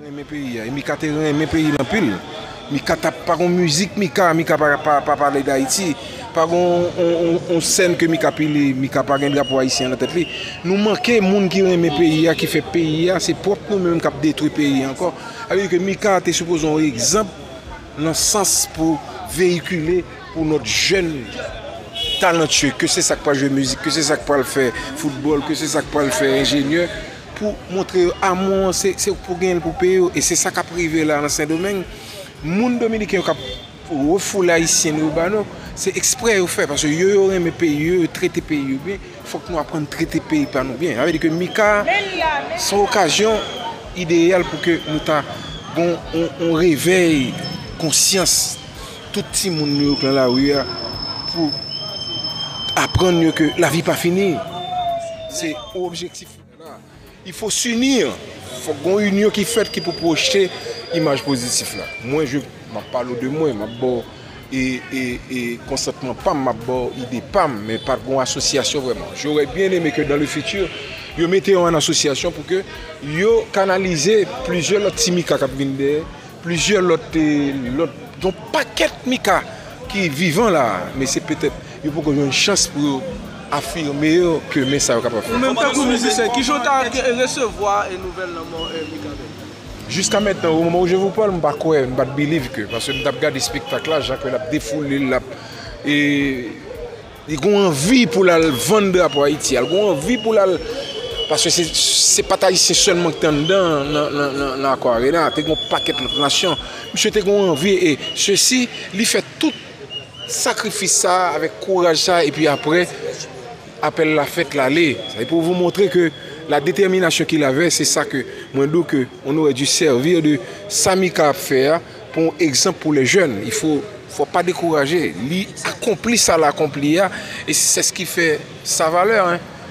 renmen peyi a e mika te renmen peyi l anpil mika tap pa gon mizik mika mika pa pale dayiti pa gon yon sèn ke mika pile mika pa gen drapo ayisyen nan tèt li nou manke moun ki renmen peyi a ki fè peyi a se pwòp nou menm kap detwi peyi a ankò sa vle di ke mika te sipoze yon egzanp nan sans pou veyikile pou lòt jèn talantye ke se sa k pral jwe mizik ke se sa k pral fè foutbòl ke se sa k pral fè enjenyè pou montre yo amou an se ou ki pou genyen l pou peye yo e se sa kap rive la nan sendomeng moun dominiken yo kap refoule ayisyen nou yo ba nou se eksprè yo fè paske yo yo renmen peyi yo yo trete peyi yo byen fòk nou aprann trete peyi pa nou byen sa vle di ke mika se yon okazyon ideyal pou ke nou ta gon yon revèy konsyans tout ti moun nou yo k nan lari a pou aprann yo ke lavi pa fini se yon objektif. Il faut s'unir, fok gon union ki fèt ki pou pwojte imaj pozitif la. Mwen je map pale w de mwen, map ba w e konsantman pam, map ba w ide pam men pa gon asosyasyon vrèman. J'aurais bien aimé que dans le futur yo mete yo an asosyasyon pou ke yo kanalize plizyè lòt ti Mika kap vin dèyè, plizyè lòt, lòt, gon pakèt Mika ki vivan la a men se petèt Yo poko jwenn chans pou yo afime yo ke men sa yo kapab fè. Ou menm tankou mizisyen, ki jan w ta resevwa nouvèl lanmò Mikaben? Jiska mentnan, o moman ou je vou pale, m pa kwè, m pat believe ke, paske m tap gade spektak la, jan ke lap defoule l, lap e li gon anvi pou l al vann drapo Ayiti a, li gon anvi pou l al, paske se se pat ayisyen sèlman ki te anndan nan Accor Arena, te gon pakèt lòt nasyon. Misye te gon anvi e sesi li fè tout. sakrifis sa a, avèk kouraj sa a, epi apre, apèl la fèt, l ale. Se pou vou montre ke la detèminasyon ki l avè, se sa ke mwen di w ke on aurait dû servir de sa Mika ap fè a pou yon egzanp pou les jeunes. Il faut, fò w pa dekouraje. Li akonpli sa l akonpli a, e sè s ki fè sa valè.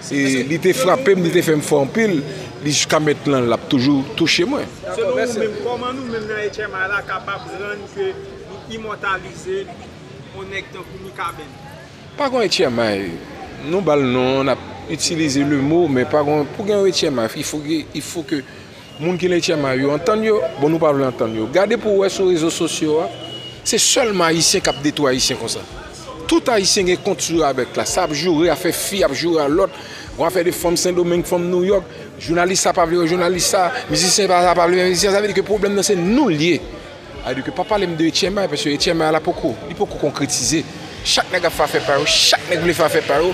E li te frape m, li te fè m fò anpil, li jiska mètlan l ap toujou touche mwen. Selon ou menm, kòman nou menm nan HMI la kapab rann ke Li imòtalize on nèg tankou Mikaben. Pa gon etyèmay, nou ba l non, n ap itilize lemo, men pa gon, pou gen yon etyèmay, il fo gen, il fo ke moun ki nan etyèmay yo antann yo, bon nou pa vle antann yo. Gade pou w wè sou rezo sosyo a, se sèlman Ayisyen k ap detwi Ayisyen konsa. Tout Ayisyen gen kont sou Rabèk la, sa ap joure afè fi, ap joure a lòt, gon afè de fanm Sendomeng, fanm Nouyòk, jounalis sa pa vle wè jounalis sa, mizisyen sa pa vle wè mizisyen sa, sa vle di ke pwoblèm nan se nou l ye. A di ke pa pale m de Etchèmay paske Etchèmay la poko, li poko konkretize. Chak nèg ap fè afè pa yo, chak nèg vle fè afè pa yo.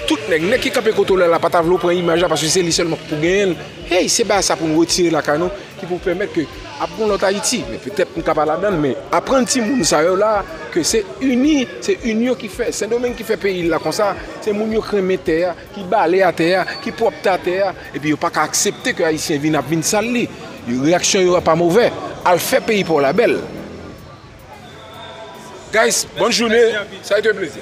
Tout nèg, nèg ki kanpe kote w la la pa ta vle w pran imaj la paske se li sèlman ki pou genyen l. Hey, se bagay sa pou nou retire lakay nou ki pou pèmèt ke ap gen yon lòt Ayiti. Men petèt nou ka pa ladan l men aprann timoun sa yo la ke se ini, se inyon ki fè Sendomeng ki fè peyi l la konsa. Se moun yo k renmen tè a. ki bale atè a, ki pwòpte atè a, epi yo pa ka aksepte ke Ayisyen vin ap vin sal li. Reyaksyon yo pa movè. Al fè peyi pa w la bèl. Guys, bòn joune. Sa ete yon plezi.